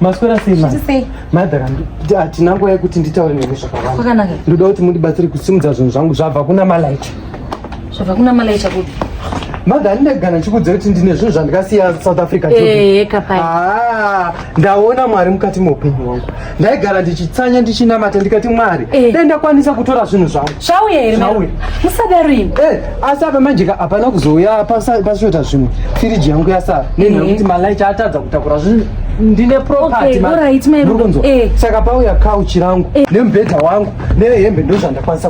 maswera sei madhara hatina nguva yekuti nditaure nemi zvakawanda ndoda kuti mundibatsire kusimudza zvinhu zvangu zvabva kuna malaita zvabva kuna malaita kupi madha handinegana chikuudza kuti ndine zvinhu zvandikasiya south africa ndaona mwari mukati meupenyu wangu ndaigara ndichitsanya ndichinamata ndikati mwari eh. dai ndakwanisa kutora zvinhu zvangu zvauya here musadaro imi eh, asi apa manjeka hapana kuzouya pasvota zvimwe firiji yangu yasara nenhu yekuti eh. malaichi atadza kutakura zvinhu ndine propertyoriht eh. saka pauya kauchi rangu nemubhedha wangu nehembe ndozvandakwanisa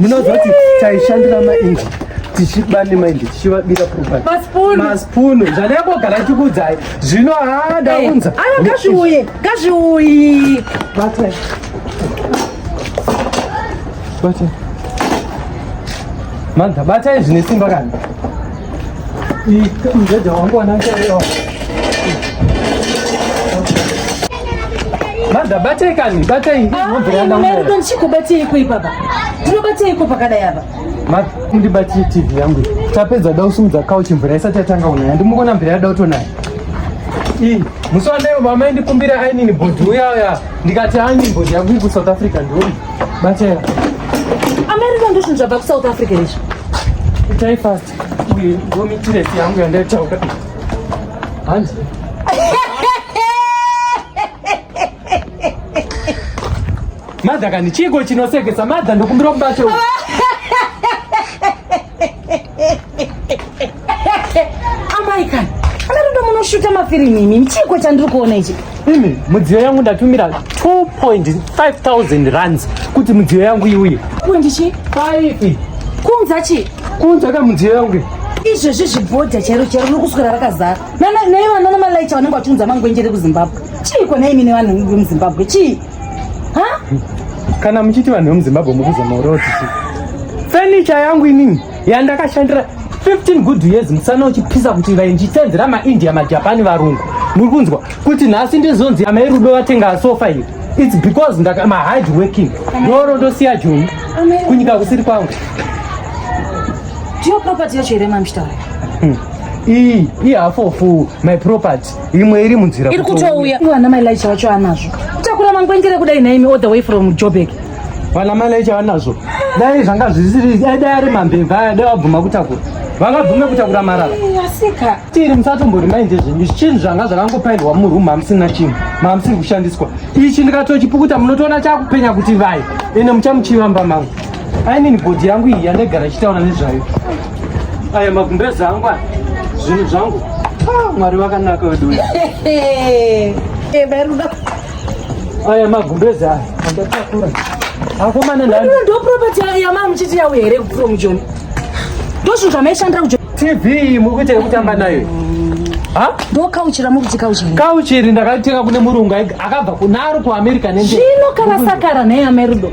ndinoziva kuti taishandira mainji tichiba nemaindi tichivabira propertymaspunu zvanekogara tikudzai zvino haa ndaunza aa ngazviuye ngazviuyi batai batai manda batai zvine simba kana mjeja wangu wanakeyo madha batei kani batei ndinombiranaero ndichikubatei koi papa ndinobatei ko pakadai apa ndibatie tv yangu tapedza da usumudza kauchi mvura isati yatanga kunaya ndimukona mvura yada utonaya ii musi wandaivo mama indikumbira ainini bhodhi uyauya ndikati ainini bhodhi yangu iku south africa ndioni Batela. America ndosvinhu zvabva kuSouth Africa izvi. Itai fast. Uye ngomitiresi yangu yandaitaura. Hanzi. Madha kani chiko chinosekesa madha ndokumbira kubata. amai kani anatoda munoshuta mafirimu imi mchiiko chandiri kuona ichi imi mudziyo yangu ndatumira 2.5000 rands kuti mudziyo yangu iuye kundichi faifi kunza chii kunza ka mudziyo yangu izvezvi zvibhodha chairo chairo riri kuswera rakazara naivanana malaicha vanenge vachiunza mangwenjere kuzimbabwe chiiko naimine vanhu vemuzimbabwe chii Kana muchiti vanhu vemuZimbabwe mukuzama urowa tisi. Furniture yangu inini yandakashandira 15 good years musana uchipisa kuti vai ndichisenzera maindia majapani varungu muri kunzwa kuti nhasi ndizonzi amai rudo vatenga sofa iri its because ndaka mahard working ndoro ndosiya joni kunyika kusiri kwangu ndiyo property yacho here mamshtaura hmm. iyi ihafofu my property imwe iri munzira iri kutouya vana mai laicha vacho anazvo takura mangwengere kudai naimi all the way from jobek vana mai laicha vanazvo dai zvanga zvisiri dai dai ari mambeva aya dai vabvuma kutakura vangabvume kutakura marara asika tiri musatombori mainde zvenyu chinhu zvanga zvakangopairwa muroom hamusina chinhu mamusiri kushandiswa ichi ndikatochipukuta munotoona chakupenya kuti vai ende muchamuchivamba mangu I mean body yangu iyi yandaigara ichitaura nezvayo aya magumbeza angu aya zvinhu zvangu ah, mwari vakanaka wedu uyu aya magumbeza aya andatakura akomana ndo property yamava muchiti yawo here kupfuura mujoni ndo zvinhu zvamaishandira kujoni tv muri kuita yekutamba nayo ndokauchira mukuti kauchiri kauchiri ndakatenga kune murungu akabva kunaro kuamerica nezvino kana sakara neyamerudo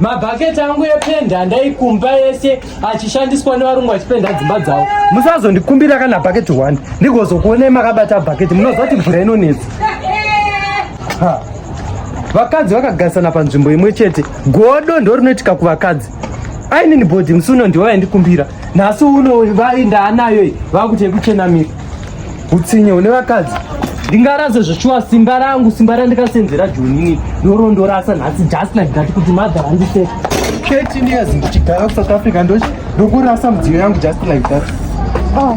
mabhaketi angu ependa ndaikumba yese achishandiswa nevarungu vachipenda dzimba dzavo musazondikumbira kana bhaketi one ndigozokuonei makabata bhaketi munoziva kuti mvura inonetsa vakadzi vakagarisana panzvimbo imwe chete godo ndo rinoitika kuvakadzi ainini bhodhi musi uno ndivo vaindikumbira nhasi uno vai ndaanayo iyi vakuti yekuchenamira utsinye une vakadzi ndingarase zveshuwa simba rangu simba randikasenzera jonini ndorondorasa nhasi just like that kuti mother handise thirteen years ndichigara kusouth africa ndokurasa mudziyo yangu just like that ah.